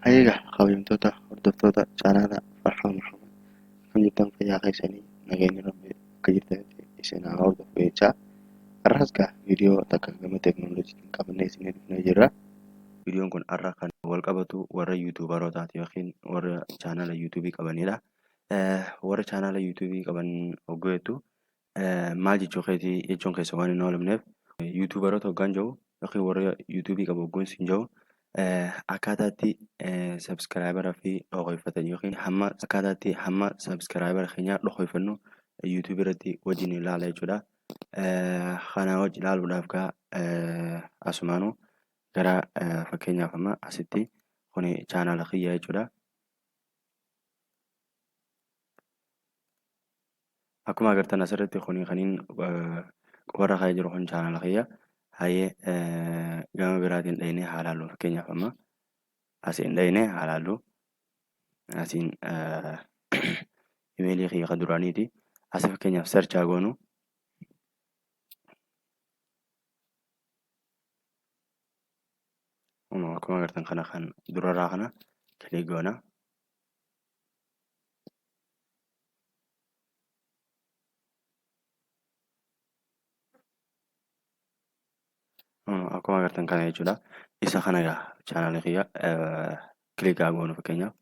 Egaa kabajamtoota hordoftoota chaanaala Farhaa Muhammad kan jirtan fayyaa keessanii nageenya rabbi akka jirtanitti isin haa hordofu jechaa har'as gaa viidiyoo takka gama teeknooloojiitiin qabannee isin dhufnee jirra. Viidiyoon kun har'a kan wal qabatu warra yuutuubarootaati yookiin warra chaanaala yuutuubii qabanidha. warra chaanaala yuutuubii qaban hogguu jettu maal jechuu keeti jechuun keessa waan hin oolamneef yuutuubaroota hoggaan jiru yookiin warra yuutuubii qabu hogguun siin jiru akkaataatti sabskiraayibara fi dhokoyfatan yookiin hamma akkaataatti hamma sabskiraayibara keenyaa dhokoyfannu yuutuubii irratti wajjin ilaala jechuudha. Kanaa wajji ilaaluudhaaf gaa asumaanu gara fakkeenyaaf amma asitti kuni chaanaala kiyya jechuudha. akkuma agartan asirratti kuni kaniin qubarra ka'ee jiru kun chaanala kiyya hayyee gama biraatiin dhaynee haa laallu fakkeenyaaf amma asiin dhaynee haa laallu asiin imeelii kiyya ka duraaniiti asi fakkeenyaaf search haa goonu Kunoo akkuma agartan kana kan durarraa kana kilik goona. Kunoo akkuma agartan kana jechuudha. Isa kana egaa chaanaalii kiyya kilik haa goonu fakkeenyaaf.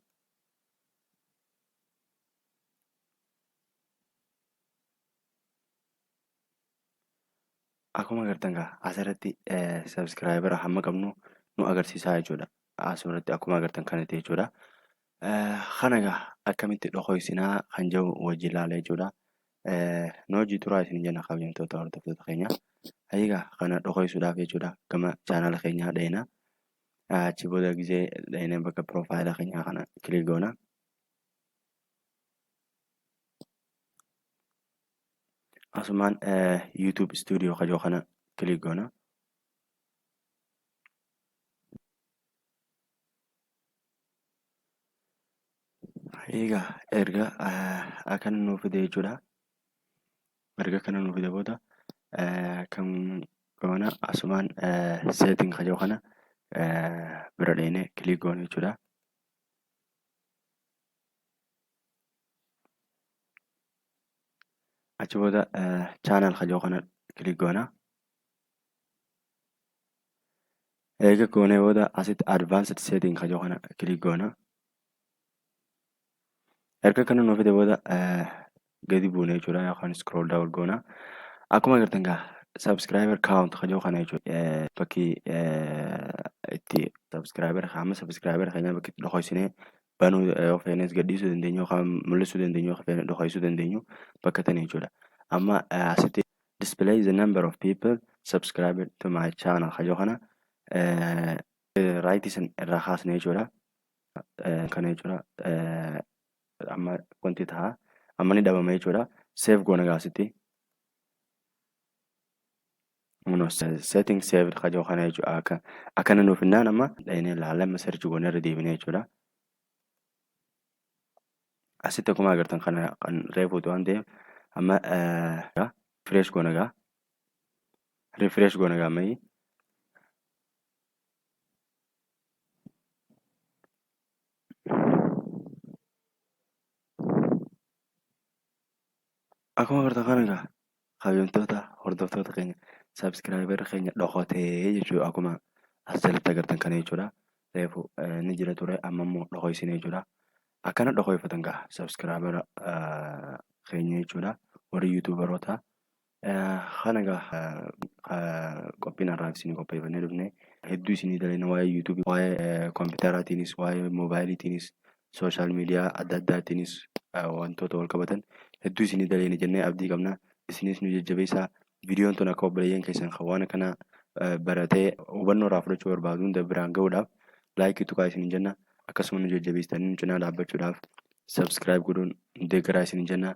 Akkuma agartan kaa asirratti sabiskiraayibara hamma qabnu nu agarsiisaa jechuudha. Asirratti akkuma agartan kanatti jechuudha. Kana egaa akkamitti dhokoysinaa kan jedhu wajjin ilaala jechuudha. Nu wajjin turaa isin jenna kabajamtoota hordoftoota keenya. Egaa kana dhokoysuudhaaf jechuudha gama chaanala keenyaa dheena. Achi booda gisee dheenee bakka piroofaayila keenyaa kana kilik goona. asumaan YouTube studio kajoo kana click goona. Egaa erga akkana nuu fide jechuudha. Erga akkana nuu fide booda kan goona asumaan setting kajoo kana bira dheenee click goona jechuudha. achi booda channel kajoo kana click goona eega goonee booda asitti advanced setting kajoo kana click goona erga kana nuu fide booda gadi buune jechuudha yookaan scroll down goona. Akkuma agartan gaa subscriber count kan jedhu kana jechuudha bakki itti subscriber hamma subscriber keenyaa bakki itti dhokoysinee banuu yoo feenes gadhiisuu dandeenyu yookaan mul'isuu dandeenyu yookaan feene dhokoysuu dandeenyu bakka tana jechuudha. Amma asitti display the number of people subscribed to my channel kan jedhu kana right isin irraa kaasne jechuudha. Kana jechuudha amma wanti ta'a amma ni dhabama jechuudha save goona gaasitti no setting saved ka jiru kana jechuudha akka akkana nuuf hinnaan amma dhahinee laalama search goona irra deebinee jechuudha asitti akkuma agartan kana kan reefuutu waan ta'eef amma refresh goona gaa refresh goona gaa ammayyi Akkuma agartan kana egaa kabajamtoota hordoftoota keenya sabiskiraayibarri keenya dhokatee jechuudha akkuma as jalatti agartan kana jechuudha. Reefu ni jira ture amma immoo dhokaysine jechuudha. Akkana dhokayfatan gaa sabiskiraayibara keenya jechuudha warri yuutuubaroota Kana egaa qophiin har'aaf isin qopheeffannee dhufne hedduu isinii dalayna waa'ee yuutuubii waa'ee kompiitaraatiinis waa'ee moobaayiliitiinis sooshaal miidiyaa adda addaatiinis wantoota wal qabatan hedduu isinii dalayna jennee abdii qabna isinis nu jajjabeessaa viidiyoon tun akka obboleeyyan keessan kan waan akkanaa baratee hubannoo irraa fudhachuu barbaadu hunda biraan ga'uudhaaf laayikii tuqaa isiniin jenna akkasuma nu jajjabeessitanii nu cinaa dhaabbachuudhaaf sabskiraayib godhuun deeggaraa isiniin jenna